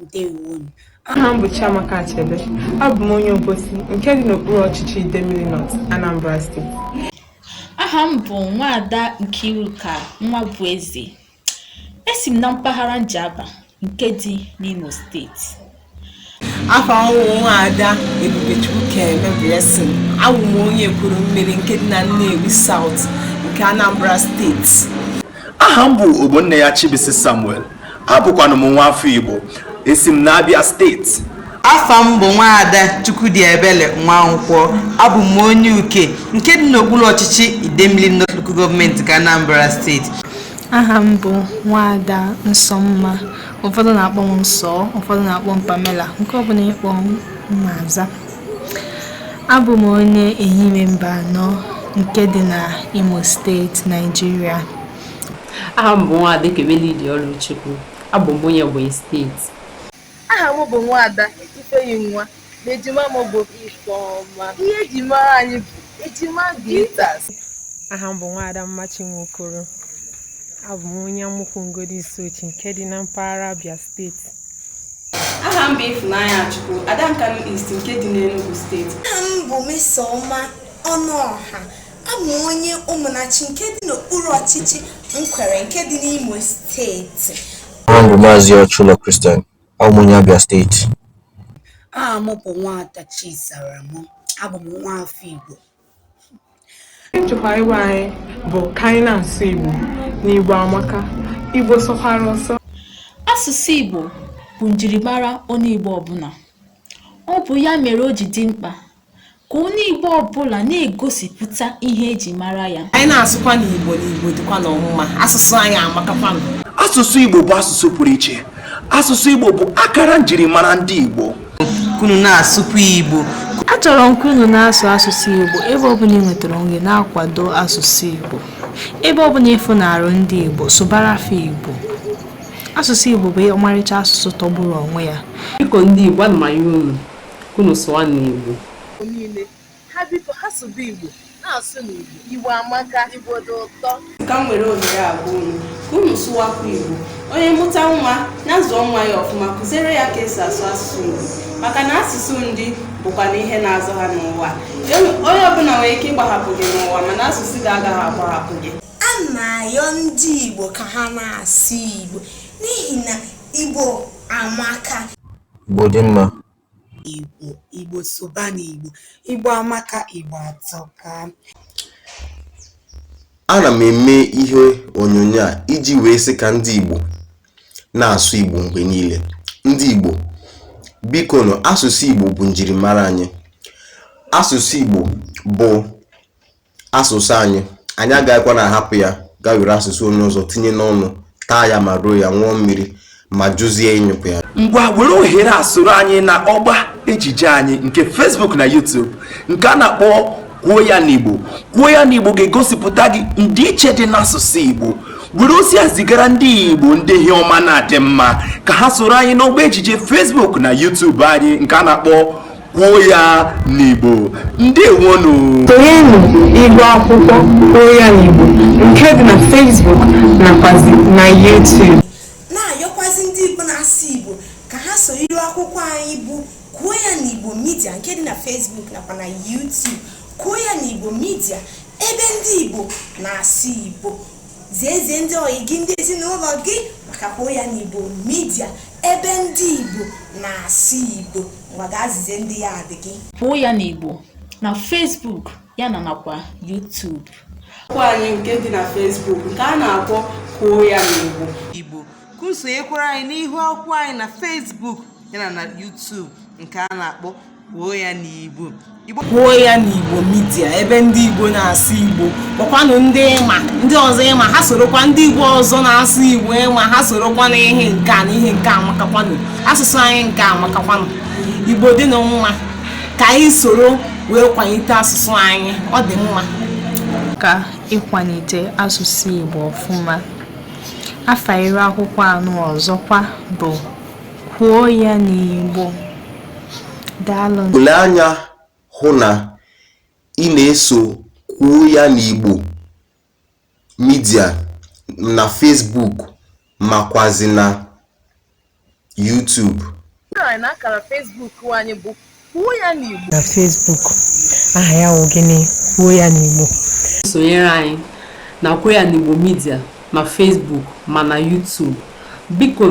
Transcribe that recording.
ndewonu aha m bụ Chiamaka Achebe abụ m onye Obosi nke dị n'okpuru ọchịchị Idemili North Anambra steeti aha m bụ nwaada Nkiruka Nwabueze esi m na mpaghara Njaba nke dị n'Imo steeti afa m wụ nwaada Ebubechukwu Keme Blessing abụ m onye Ekwulumili nke dị na Nnewi South nke Anambra steeti aha m bụ Ogbonneya Chibuisi Samuel abụkwanụ m nwa afọ Igbo esi m n'Abia steeti afa m bụ nwaada Chukwudiebele nwankwọ abụ m onye uke nke dị n'okpuru ọchịchị Idemili North Local Government nke Anambra steeti aha m bụ nwaada nsọmma ụfọdụ na-akpọ m nsọ ụfọdụ na-akpọ m pamela nke ọbụla ị kpọ m m aza Abụ m onye Ehime Mbano nke dị na Imo steeti, Naijiria. Aha m bụ Nwaada Ekebelidi Ọlụchukwu. Abụ m onye Ebonyi steeti. Aha m bụ Nwaada Ifeyinwa na ejima m bụ Ifeọma. Ihe e ji mara anyị bụ Ejima Glitters. aha m bụ nwaada mmachi nwokoro abụ m onye amụkwu Ngodo Isuochi nke dị na mpaghara abia steeti aha m bụ Ịfụnanyachukwu ada nkanụ east nke dị n'enugu steeti aha m bụ Mmesoma ọnụọha abụ m onye ụmụnachi nke dị n'okpuru ọchịchị Nkwerre nke dị n'imo steeti aha m bụ maazị ọchụlọ Christian Abụ m onye Abia steeti. Aha m bụ Nwaada Chisaram. Abụ m nwa afọ Igbo. Nchekwube anyị bụ ka anyị na-asụ Igbo na Igbo amaka. Igbo sọkwara ụsọ. Asụsụ Igbo bụ njirimara onye Igbo ọbụla. Ọ bụ ya mere o ji dị mkpa ka onye Igbo ọbụla na-egosipụta ihe eji mara ya anyị na-asụkwanụ Igbo na Igbo dịkwa nnọọ mma asụsụ anyị amakakwa asụsụ Igbo bụ asụsụ pụrụ iche asụsụ Igbo bụ akara njirimara ndị Igbo ka unu na-asụkwa Igbo achọrọ m ka unu na-asụ asụsụ Igbo ebe ọbụla ị nwetara onwe na-akwado asụsụ Igbo ebe ọbụla ị fụnarụ ndị Igbo sụbara fa Igbo asụsụ Igbo bụ ọmarịcha asụsụ tọgburu onwe ya biko ndị Igbo ana m ayọ unu Unu sụwanụ Igbo. Igbo niile ha biko ha sụba Igbo, na-asụnụ Igbo. Igbo amaka. Igbo dị ụtọ. Ka m were ohere a gwa unu ka unu sụwakwa Igbo. Onye mụta nwa, nya zụọ nwa ya ọfụma, kụziere ya ka esi asụ asụsụ Igbo. Maka na asụsụ ndị bụkwanụ ihe na-azụ ha n'ụwa. Onye ọbụla nwere ike ịgbahapụ gị n'ụwa mana asụsụ gị agaghị agbahapụ gị. A na-ayọ ndị Igbo ka ha na-asụ Igbo n'ihi na Igbo amaka. Igbo dị mma. Igbo, Igbo sụba n'Igbo. Igbo amaka, Igbo atọka. Ana m eme ihe onyonyo a iji wee sị ka ndị Igbo na-asụ Igbo mgbe niile. Ndị Igbo, bikonu, asụsụ Igbo bụ njirimara anyị. Asụsụ Igbo bụ asụsụ anyị anyị agaghịkwa na-ahapụ ya gaa were asụsụ onye ọzọ tinye n'ọnụ taa ya ma roo ya ṅụọ mmiri ma jụzie ịnyụpụ ya ngwa were ohere a soro anyị na ọgba ejije anyị nke Facebook na YouTube nke a na-akpọ kwuo ya n'Igbo kwuo ya n'Igbo ga-egosipụta gị ndịiche dị n'asụsụ Igbo were ozi a zigara ndị igbo ndị ihe ọma na-adị mma ka ha soro anyị n'ọgba ejije Facebook na YouTube anyị nke a na-akpọ kwuo ya n'Igbo ndewonụ sonyenụ iru akwụkwọ kwuo ya n'Igbo nke dị na Facebook nakwazi na YouTube na-ayọkwazi ndị Igbo na-asụ Igbo ka ha soro iru akwụkwọ anyị bụ kwuo ya n'Igbo midia nke dị na Facebook nakwa na YouTube kwuo ya n'Igbo midia ebe ndị Igbo na-asụ Igbo ziezie ndị ọyị gị ndị ezinụlọ gị maka kwuo ya n'igbo midia ebe ndị igbo na-asụ igbo ngwa gaa zizie ndị ya adị gị kwuo ya n'igbo na facebook ya na nakwa youtube akwụkwọ anyị nke dị na facebook nke a na-akpọ kwuo ya n'igbo igbo ka unu sonyekwara anyị n'ihu akwụkwọ anyị na facebook yana na youtube nke a na-akpọ kwuo ya n'igbo kwuo ya n'igbo midia ebe ndị igbo na-asụ igbo kpọkwanụ ndị ị ma ndị ọzọ ị ma ha sorokwa ndị igbo ọzọ na-asụ igbo ị ma ha sorokwa na ihe nke a na ihe nke a amakakwanụ asụsụ anyị nke a amakakwanụ igbo dị na mma ka anyị soro wee kwanite asụsụ anyị ọ dị mma ka i kwanite asụsụ igbo ọfụma afa iru akwụkwọ anụ ọzọkwa bụ kwuo ya n'igbo Lee anya hụ na ị na-eso kwuo ya n'Igbo midia na Facebook makwazi na YouTube. Na Facebook, aha ya wụ gịnị? Kwuo ya n'Igbo. Sonyere anyị na Kwuo ya n'Igbo midia ma Facebook ma na YouTube. Biko